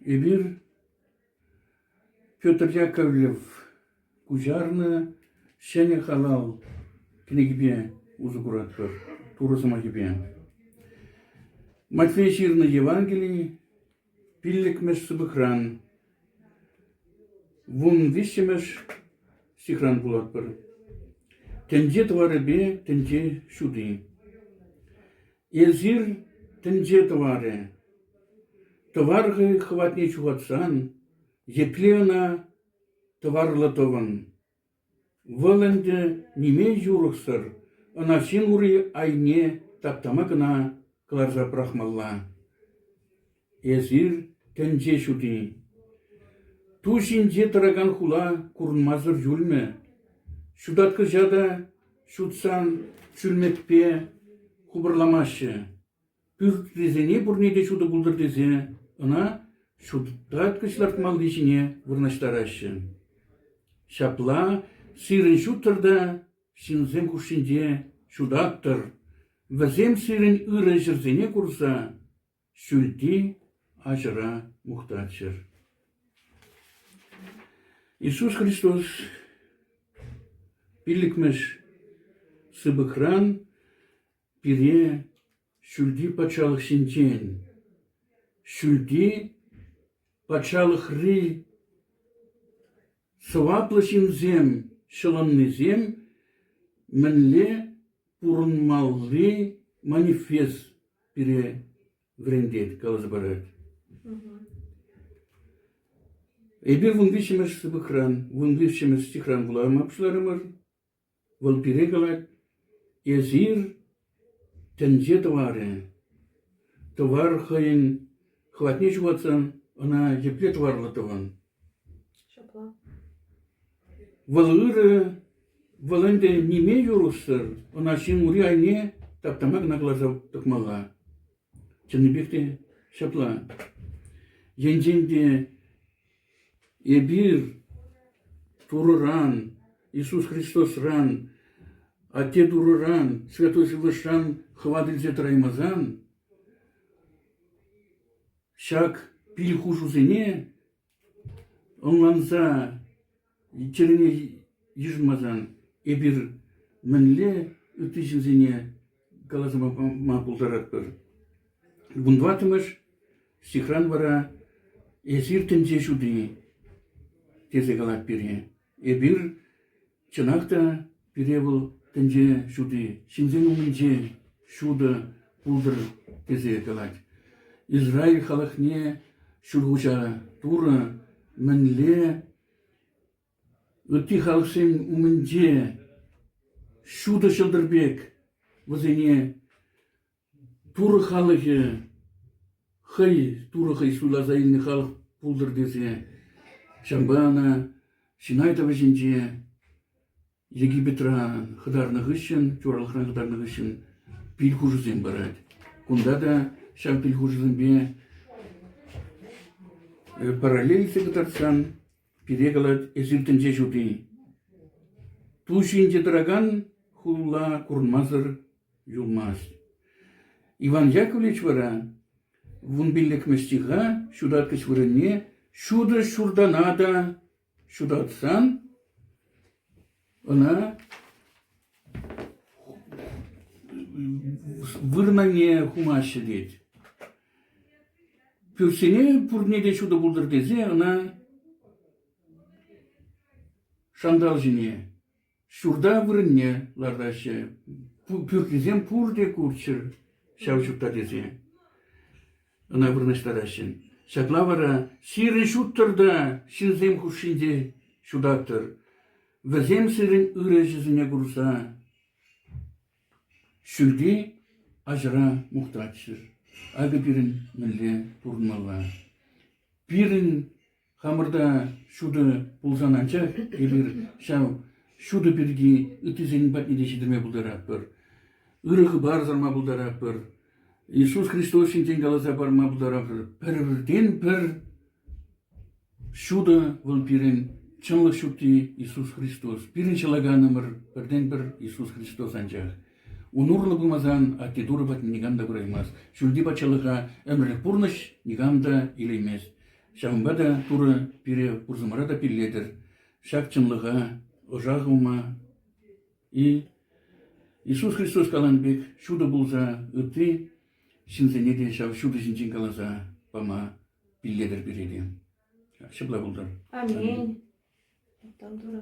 Эпир Петр Яковлев куҫарнӑ ҫӗнӗ калав кӗнекипе усӑ куратпӑр, Турӑ сӑмахӗпе. Матфей ҫырнӑ Евангели пиллӗкмӗш сыпӑкран вун виҫҫӗмӗш стихран вулатпӑр. Тӗнче тӑварӗпе тӗнче ҫути. Эсир тӗнче тӑварӗ. Тӑвар хӑватне ҫухатсан, епле ӑна тӑварлӑ тӑвӑн? Вӑл ӗнтӗ ниме юрӑхсӑр, ӑна ҫын ури айне таптама кӑна кӑларса пӑрахмалла. Эсир тӗнче ҫути. Ту ҫинче тӑракан хула курӑнмасӑр юлмӗ. Ҫутат кӑҫа та ҫутсан ҫӳлмекпе хупӑрламаҫҫӗ. Пӳртрисене пурне те ҫутӑ пултӑр тесе ӑна ҫутаткӑҫ лартмалли ҫине вырнаҫтараҫҫӗ. Ҫапла сирӗн ҫуттӑр та ҫынсем хушшинче ҫутаттӑр, вӗсем сирӗн ырӑ ҫӗрсене курса Ҫӳлти аҫӑра мухтаччӑр. Иисус Христос пиллӗкмӗш сыпӑкран пире ҫӳлти патшалӑхсенчен, ҫӳлти патшалӑхри Сӑваплӑ ҫынсем ҫӑлӑннисем мӗнле пурӑнмалли манифест пире вӗрентет, каласа парать. Эпир вун виҫҫӗмӗш сыпӑкран, вун виҫҫӗмӗш стихран вулама пуҫларӑмӑр. Вӑл пире калать: «Эсир — тӗнче тӑварӗ. Тӑвар хӑйӗн хӑватне ҫухатсан ӑна епле тӑварлӑ тӑвӑн?» Вӑл ырӑ, вӑл ӗнтӗ ниме юрӑхсӑр, ӑна ҫын ури айне таптама кӑна кӑларса тӑкмалла. Чӑннипех те ҫапла. Енчен те Эпир Турӑран, Иисус Христосран, Атте Турӑран, Святой Сывлӑшран хӑват илсе тӑраймасан ҫак кил хушусене ӑнланса Чӗрене йышӑнмасан эпир мӗнле ытти ҫынсене каласа пама пултаратпӑр? Вунтӑваттӑмӗш стихран вара «Эсир тӗнче ҫути» тесе калать пире. Эпир чӑнах та Пире вӑл тӗнче ҫути, ҫынсен умӗнче ҫутӑ пултӑр тесе калать. Израиль халӑхне Ҫӳлхуҫа Турӑ мӗнле ытти халӑхсен умӗнче ҫутӑ ҫӑлтӑр пек вӗсене Турӑ халӑхӗ хӑй Турӑ хӑй суйласа илнӗ халӑх пултӑр тесе ҫавӑнпа ӑна Синай тӑвӑҫӗнче Египетра хӑтарнӑ хыҫҫӑн, чуралӑхран хӑтарнӑ хыҫҫӑн пил хушусем парать. Кунта та ҫав пил хушусемпе параллель илсе кӑтартсан пире калать «Эсир тӗнче ҫути». Ту ҫинче тӑракан хула курӑнмасӑр юлмасть. Иван Яковлевич вара вун пиллӗкмӗш ҫураткӑч вырӑнне ҫутӑ ҫуртана та ҫутатсан ӑна вырӑнне хумаҫҫӗ тет. Пӳртсене пурне те ҫутӑ пултӑр тесе ӑна шантал ҫине ҫурта вырӑнне лартаҫҫӗ. Пӳртисем пурте курччӑр ҫав ҫутта тесе ӑна вырнаҫтараҫҫӗ. Ҫакна вара сирӗн ҫуттӑр та ҫынсем хушшинче ҫутаттӑр. Вӗсем сирӗн ырӑ ӗҫӗсене курса ҫӳлти аҫӑра мухтатчӑр. Акӑ пирӗн мӗнле пурӑнмалла. Пирӗн Хамӑр та ҫутӑ пулсан анчах эпир ҫав ҫутӑ пирки ыттисен патне те ҫитерме пултаратпӑр. Ырӑ хыпар сарма пултаратпӑр. Иисус Христос ҫинчен каласа парма пултаратпӑр. Пӗртен-пӗр ҫутӑ вӑл пирӗн чӑнлӑх ҫутти Иисус Христос. Пирӗн ҫӑлаканӑмӑр пӗртен-пӗр Иисус Христос анчах. Ун урлӑ пымасан атте Турӑ патне никам та пыраймасть. Ҫӳлти патшалӑха ӗмӗрлӗх пурнӑҫ никам та илеймест. Ҫавӑнпа та Турӑ пире пурсӑмӑра та пиллетӗр, ҫак чӑнлӑха ӑша хывма-и Иисус Христос каланӑ пек ҫутӑ пулса ытти ҫынсене те ҫав ҫутӑ ҫинчен каласа пама пиллетӗр пире те. Ҫапла пултӑр. Аминь. Мухтав Турӑ.